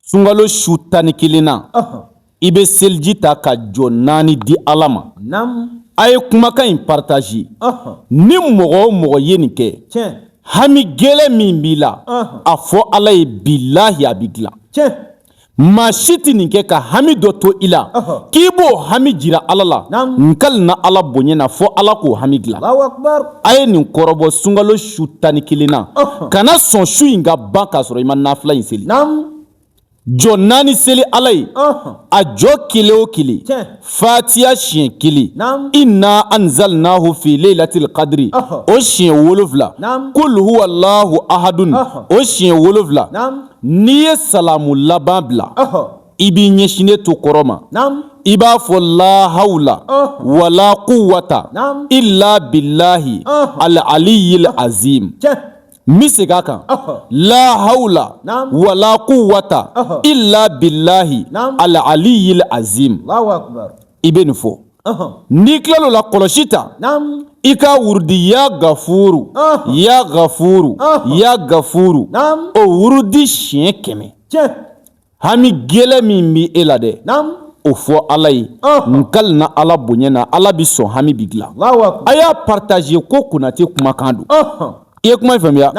sunkalo su tan ni kelen na i bɛ seliji ta ka jɔ naani di ala ma a ye kumakan in parataze ni mɔgɔ o mɔgɔ ye nin kɛ hami gɛlɛn min b'i la a fɔ ala ye bilahi a bɛ dilan maa si tɛ nin kɛ ka hami dɔ to i la k'i b'o hami jira ala la n kali na ala bonya na fɔ ala k'o hami dilan a ye nin kɔrɔbɔ sunkalo su tan ni kelen na kana sɔn su in ka ban k'a sɔrɔ i ma nafila in seli jɔ naani seli ala ye a jɔ kelen o kelen fatiya siɲɛ kelen inna anzalnahu fi lailatil kadiri o siɲɛ wolonwula kul huwalahu ahadun o siɲɛ wolonwula n'i ye salamu laban bila i b'i ɲɛsinnen to kɔrɔn ma i b'a fɔ la hawla wala kuwata ila bilahi al aliyil azim n bɛ segin a kan la hawla wala kuwata ila bilahi al aliyil azim i bɛ nin fɔ n'i kilala o la kɔlɔsi ta i ka wurudi ya gafuru ya gafuru ya gafuru o wurudi siɲɛ kɛmɛ hami gɛlɛn min bɛ e la dɛ o fɔ ala ye n kali na ala bonya na ala bɛ sɔn hami bi dilan a y'a pataze ko konate kumakan don i ye kuma in faamuya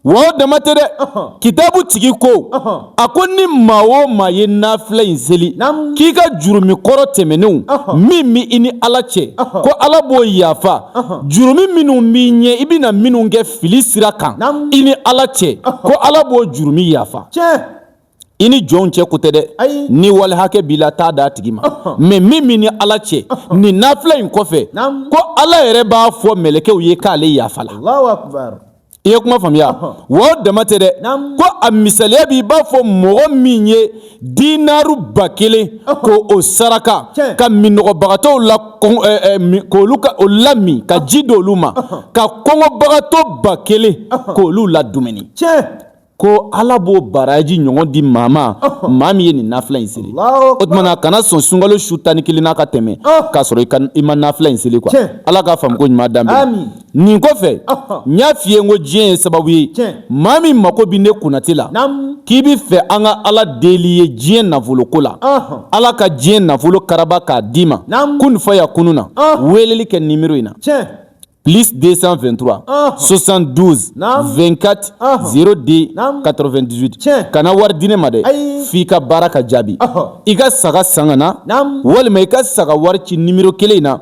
wa o dama tɛ dɛ kitabu tigi ko a ko ni maa o maa ye nafila in seli k'i ka jurumi kɔrɔ tɛmɛnenw min bɛ i ni ala cɛ ko ala b'o yafa jurumi minnu b'i ɲɛ i bɛna minnu kɛ fili sira kan i ni ala cɛ ko ala b'o jurumi yafa i ni jɔnw cɛ ko tɛ dɛ ni wali hakɛ b'i la t'a d'a tigi ma mɛ min b'i ni ala cɛ ni nafila in kɔfɛ ko ala yɛrɛ b'a fɔ mɛlɛkɛw ye k'ale yafala i ye kuma faamuya wa o dama tɛ dɛ ko a misaliya b'i b'a fɔ mɔgɔ min ye dinaru ba kelen k'o saraka ka minnɔgɔbagatɔw la k'olu ka o lamin ka ji d'olu ma ka kɔngɔbagatɔ ba kelen k'olu ladumuni ko ala b'o baraji ɲɔgɔn di maa ma maa min ye nin nafila in seli o tumana kana sɔn sunkalo su tan ni kelen na ka tɛmɛ k'a sɔrɔ i ma nafila in seli kuwa ala ka faamuko ɲuman d'an ma nin kɔfɛ n y'a f'i ye n ko diɲɛ ye sababu ye maa min mako bɛ ne konate la k'i bɛ fɛ an ka ala deli i ye diɲɛ nafoloko la ala ka diɲɛ nafolo karaba k'a d'i ma kun fayakunu na weleli kɛ nimero in na plus 223 72 24 02 98 kana wari di ne ma dɛ f'i ka baara ka jaabi i ka saga san ka na walima i ka saga wari ci nimero kelen in na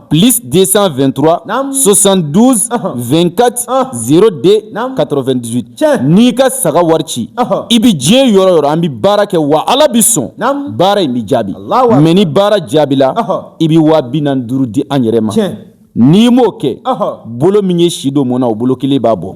plus 223 72 24 02 98 n'i ka saga wari ci i bi diɲɛ yɔrɔ o yɔrɔ an bi baara kɛ wa ala bi sɔn baara in bi jaabi mais ni baara jaabila i bi waa bi naani duuru di an yɛrɛ ma n'i m'o kɛ bolo min ye si don mɔn na o bolo kelen b'a bɔ